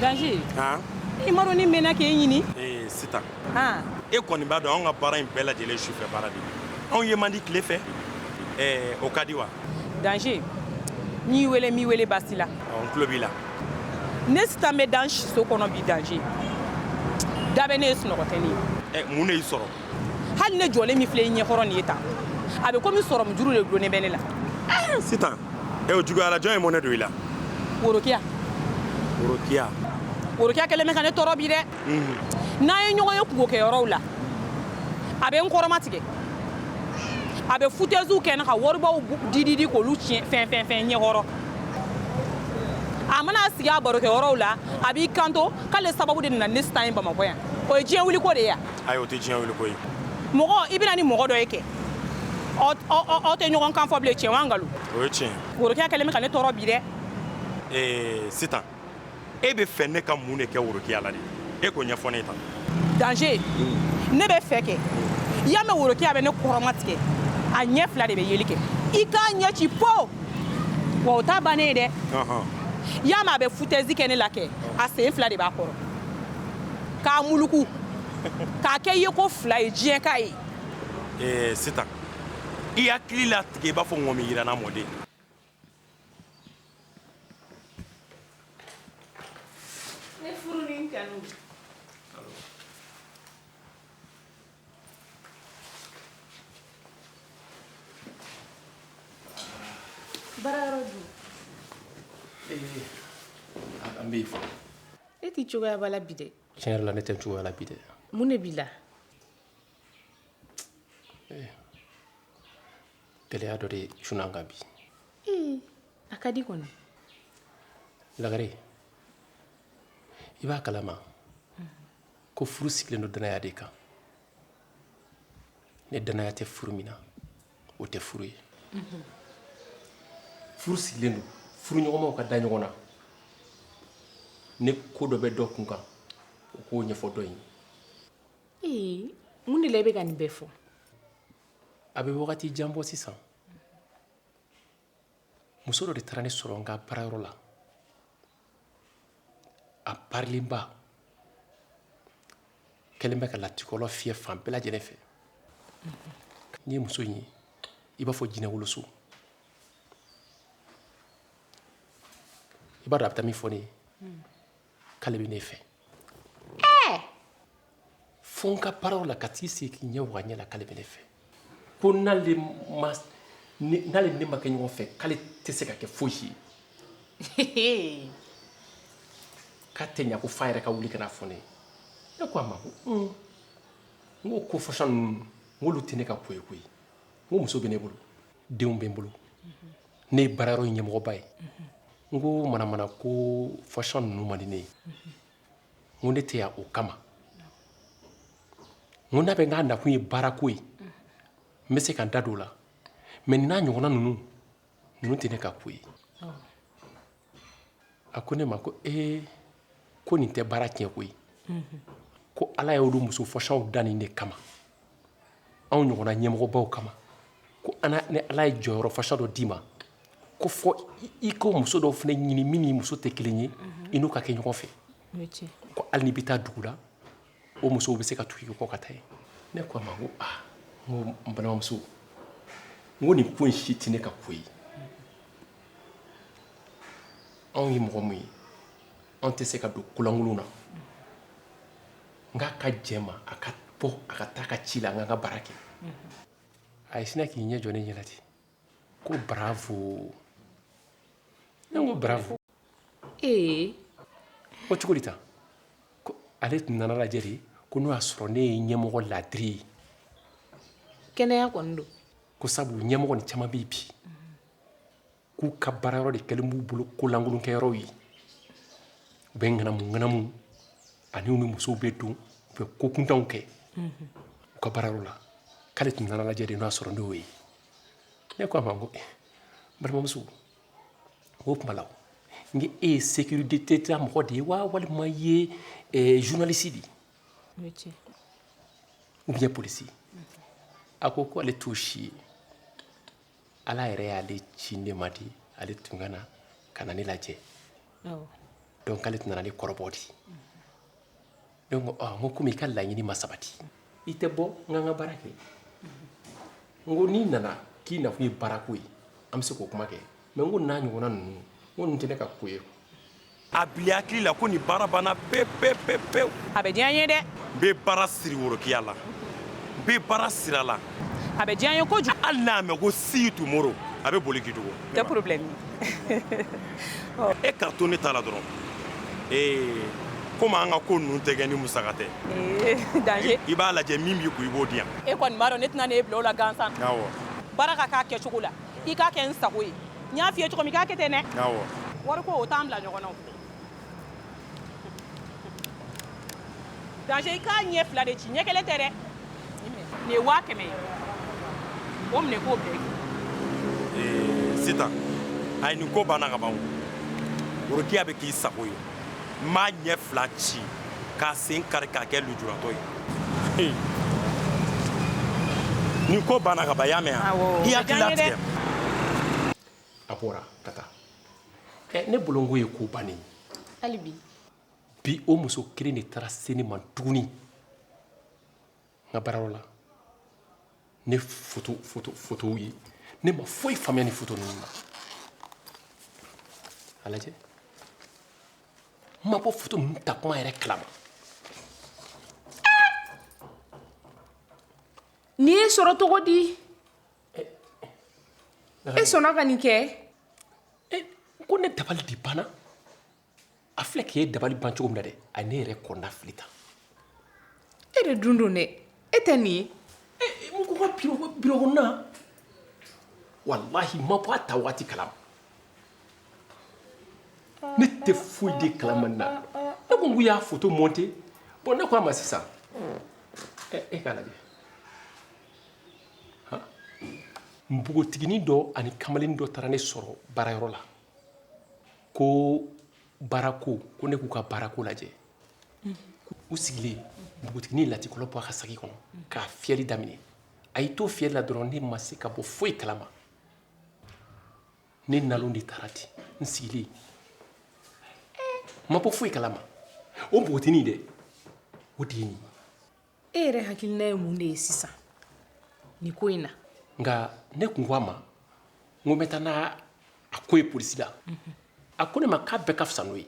Danger haan i m'a dɔn ne mɛnna k'e ɲini ee Sitan e kɔni b'a dɔn anw ka baara in bɛɛ lajɛlen sufɛ baara de anw ye man di tile fɛ o ka di wa danger n'i wele m'i wele basi la n tulo b'i la ne sitan bɛ dan siso kɔnɔ bi danger da bɛ ne ye sunɔgɔ tɛ ne ye mun de y'i sɔrɔ hali ne jɔlen min filɛ i ɲɛkɔrɔ nin ye tan a bɛ komi sɔrɔmu juru de dulonnen bɛ ne la sitan e o juguyara jɔn ye mɔnɛ don i la worokiya worokiya worokiya kɛlen bɛ ka ne tɔɔrɔ bi dɛ n'an ye ɲɔgɔn ye kunkokɛ yɔrɔw la a bɛ n kɔrɔmatigɛ a bɛ futɛziw kɛ n na ka waribaw dididi k'olu tiɲɛ fɛn fɛn fɛn ɲɛkɔrɔ a mana sigi a barokɛ yɔrɔw la a b'i kanto k'ale sababu de nana ni sitan ye bamakɔ yan o ye diɲɛ wuliko de ye yan ayi o tɛ diɲɛ wuliko ye mɔgɔ i bɛna ni mɔgɔ dɔ ye kɛ aw tɛ ɲɔgɔn kan fɔ bilen tiɲɛ wa nkalon o ye tiɲɛ worokiya kɛlen bɛ ka ne tɔɔrɔ bi dɛ ee sitan e bɛ fɛ ne ka mun de kɛ worokiya la de e k'o ɲɛfɔ ne ye tan danger hmm. ne bɛ fɛ kɛ i y'a mɛn worokiya bɛ ne kɔrɔmatigɛ a ɲɛ fila de bɛ yeli kɛ i k'a ɲɛ ci po wa o t'a bannen ye dɛ i y'a mɛn a bɛ futɛzi kɛ ne la kɛ a sen fila de b'a kɔrɔ k'a muluku k'a kɛ ye ko fila ye diɲɛ k'a ye ee sitan i hakili latigɛ i b'a fɔ ŋɔmi yiranna mɔden Ne furu ni kanu bara an bɛ fɔ e tɛ cogoya la bi dɛ tiɲɛ yɛrɛ la ne tɛ cogoya la bi dɛ mun de b'i la Gɛlɛya dɔ de cunna n kan bi a ka di kɔnɔ lagare i b'a kalama ko furu sigilen don dannaya de kan ni dannaya tɛ furu min na o tɛ furu ye furu sigilen don furuɲɔgɔnmaw ka da ɲɔgɔn na ni ko dɔ bɛ dɔ kun kan o k'o ɲɛfɔ dɔ ye mun de la i bɛ ka nin bɛɛ fɔ a bɛ wagati jan bɔ sisan muso dɔ de taara ne sɔrɔ n ka baarayɔrɔ la a parilenba kɛlen bɛ ka latikɔlɔ fiyɛ fan bɛɛ lajɛlen fɛ n'i ye muso in ye i b'a fɔ jinɛwoloso i b'a dɔn a bɛ taa min fɔ ne ye k'ale bɛ ne fɛ ɛɛ fo n ka baarayɔrɔ la ka t'i sigi k'i ɲɛ waga n ɲɛ la k'ale bɛ ne fɛ ko n'ale ma n'ale ni ne ma kɛ ɲɔgɔn fɛ k'ale tɛ se ka kɛ fosi ye k'a tɛ ɲa ko fo a yɛrɛ ka wuli ka n'a fɔ ne ye ne ko a ma ko un n ko ko façon ninnu n k'olu tɛ ne ka ko ye koyi n ko muso bɛ ne bolo denw bɛ n bolo ne ye baara yɔrɔ ɲɛmɔgɔba ye n ko manamana ko façon ninnu man di ne ye n ko ne tɛ yan o kama n ko n'a bɛ n k'a nakun ye baarako ye n bɛ se ka n da don o la mais nin n'a ɲɔgɔnna ninnu ninnu tɛ ne ka ko ye a ko ne ma ko ee ko nin tɛ baara tiɲɛ koyi ko ala y'olu muso façonw da nin de kama anw ɲɔgɔnna ɲɛmɔgɔbaw kama ko ni ala ye jɔyɔrɔ façon dɔ d'i ma ko fo i ka muso dɔw fana ɲini min n'i muso tɛ kelen ye i n'u ka kɛ ɲɔgɔn fɛ ko hali n'i bɛ taa dugu la o musow bɛ se ka tugu i kɔ ka taa yen ne ko a ma ko aa n ko n balimamuso n ko nin ko in si tɛ ne ka ko ye anw ye mɔgɔ min ye anw tɛ se ka don kolankolon na n k'a ka jɛ ma a ka bɔ a ka taa a ka ci la n ka n ka baara kɛ a sinna k'i ɲɛ jɔ ne ɲɛ la ten ko bravo ne ko bravo ee o cogo ta ko ale tun nana lajɛ de ko n'o y'a sɔrɔ ne ye ɲɛmɔgɔ ladiri ye kɛnɛya kɔni don ko sabu ɲɛmɔgɔnin caman bɛ bi k'u ka baara yɔrɔ de kɛlen b'u bolo kolankolonkɛyɔrɔw ye u bɛ ŋanamu ŋanamu ani u ni musow bɛ don u bɛ ko kuntanw kɛ u ka baara yɔrɔ la k'ale tun nana lajɛ de n'o y'a sɔrɔ n'o ye ne ko a ma ko eh, balimamuso o tuma la n ko e ye sécurité d'État mɔgɔ de ye wa walima i ye eh, journaliste de ye ou bien polisi a ko ko ale t'o si ye ala yɛrɛ y'ale ci ne ma de ale tun ka na ka na ne lajɛ donc k'ale tun nana ni kɔrɔbɔ de ye ne ko aa n ko komi i ka laɲini ma sabati i tɛ bɔ n kan n ka baara kɛ n ko n'i nana k'i nakun ye baarako ye an bɛ se k'o kuma kɛ mɛ n ko n'a ɲɔgɔnna ninnu n ko ninnu tɛ ne ka ko ye a bila i hakili la ko ni baara banna pewu pewu pewu pewu a bɛ diya n ye dɛ n bɛ baara siri worokiya la n bɛ baara siri a la a bɛ diya n ye kojugu hali n'a mɛn ko see you tomorrow a bɛ boli k'i dogo Tɛ porobulɛmu ye ka to ne taara la dɔrɔn ee ko an ka ko ninnu tɛ kɛ ni musaka tɛ i b'a lajɛ min b'i kun i b'o di yan e kɔni b'a dɔn ne tɛna ne e bila la gansan baara ka k'a kɛ cogo la i k'a kɛ n sago ye n y'a fɔ i ye cogo min k'a kɛ ten ne wariko o t'an bila ɲɔgɔn Daz i k'a ɲɛ fila de ci ɲɛ kelen tɛ dɛ nin ye waa kɛmɛ ye o minɛ k'o bɛɛ sisan a ye nin ko banna ka ban worokiya bɛ k'i sago ye n b'a ɲɛ fila ci k'a sen kari k'a kɛ lujuratɔ ye nin ko banna ka ban i y'a mɛn yan i hakili latigɛ a bɔra ka taa ɛ ne bolo nin ko ye ko bannen hali bi bi o muso kelen de taara se ne ma tuguni n ka baarayɔrɔ la ni foto foto fotow ye ne ma foyi faamuya ni foto ninnu na a lajɛ n ma bɔ foto ninnu takuma yɛrɛ kalama nin ye sɔrɔ cogo di E sɔnna ka nin kɛ ko ne dabali de banna a filɛ k'e ye dabali ban cogo min na dɛ a ne yɛrɛ kɔnɔnafili tan e de dun don dɛ e tɛ nin ye walahi n ma bɔ a ta waati kalama ne tɛ foyi de kalama nin na ne ko n k'u y'a foto mɔnte bɔn ne ko a ma sisan e k'a lajɛ npogotiginin dɔ ani kamalennin dɔ taara ne sɔrɔ baarayɔrɔ la ko baarako ko ne k'u ka baarako lajɛ u sigilen npogotiginin latikɔlɔn bɔ a ka saki kɔnɔ k'a fiyɛli daminɛ a y'i to fiyɛli la dɔrɔn ne ma se ka bɔ foyi kalama ne nalon de taara ten n sigilen n ma bɔ foyi kalama o npogotiginin dɛ o de ye nin ye e yɛrɛ hakilina ye mun de ye sisan nin ko in na nka ne tun ko a ma n ko n bɛ taa n'a ko ye polisi la a ko ne ma k'a bɛɛ ka fisa n'o ye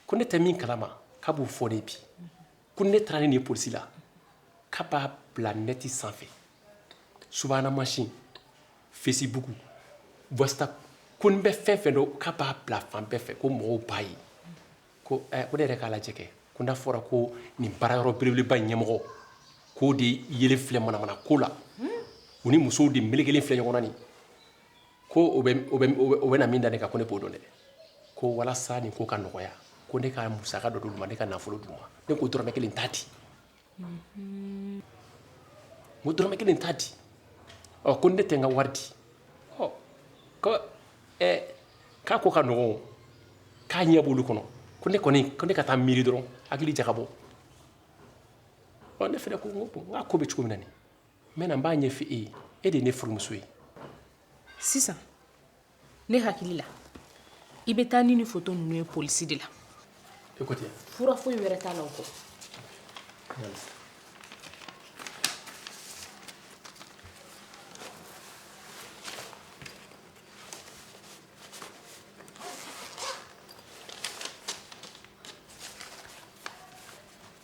ko ne tɛ min kalama k'a b'o fɔ ne bi ko ni ne taara ni nin polisi la k'a b'a bila nɛti sanfɛ subahana mansin fesibuku wasapu ko n bɛ fɛn fɛn dɔn k'a b'a bila fan bɛɛ fɛ ko mɔgɔw b'a ye ko eh, ko ne yɛrɛ k'a lajɛ kɛ ko n'a fɔra ko nin baara yɔrɔ belebeleba ɲɛmɔgɔ k'o de yelen filɛ manamana ko la u ni musow de melekelen filɛ ɲɔgɔn na nin ko o bɛ o bɛ o bɛ na min da ne kan ko ne b'o dɔn dɛ ko walasa nin ko ka nɔgɔya ko ne ka musaka dɔ d'u ma ne ka nafolo d'u ma ne ko dɔrɔmɛ kelen t'a di n ko dɔrɔmɛ kelen t'a di ɔ ko ne tɛ n ka wari di ɔ ko ɛ k'a ko ka nɔgɔn k'a ɲɛ b'olu kɔnɔ ko ne kɔni ko ne ka taa miiri dɔrɔn hakili jagabɔ ɔ ne fana ko n ko n k'a ko bɛ cogo min na nin n bɛ na n b'a ɲɛfɔ e ye e de ye ne furumuso ye sisan ne hakili la i bɛ taa ni nin foto ninnu ye polisi de la fura foyi wɛrɛ t'a la o kɔ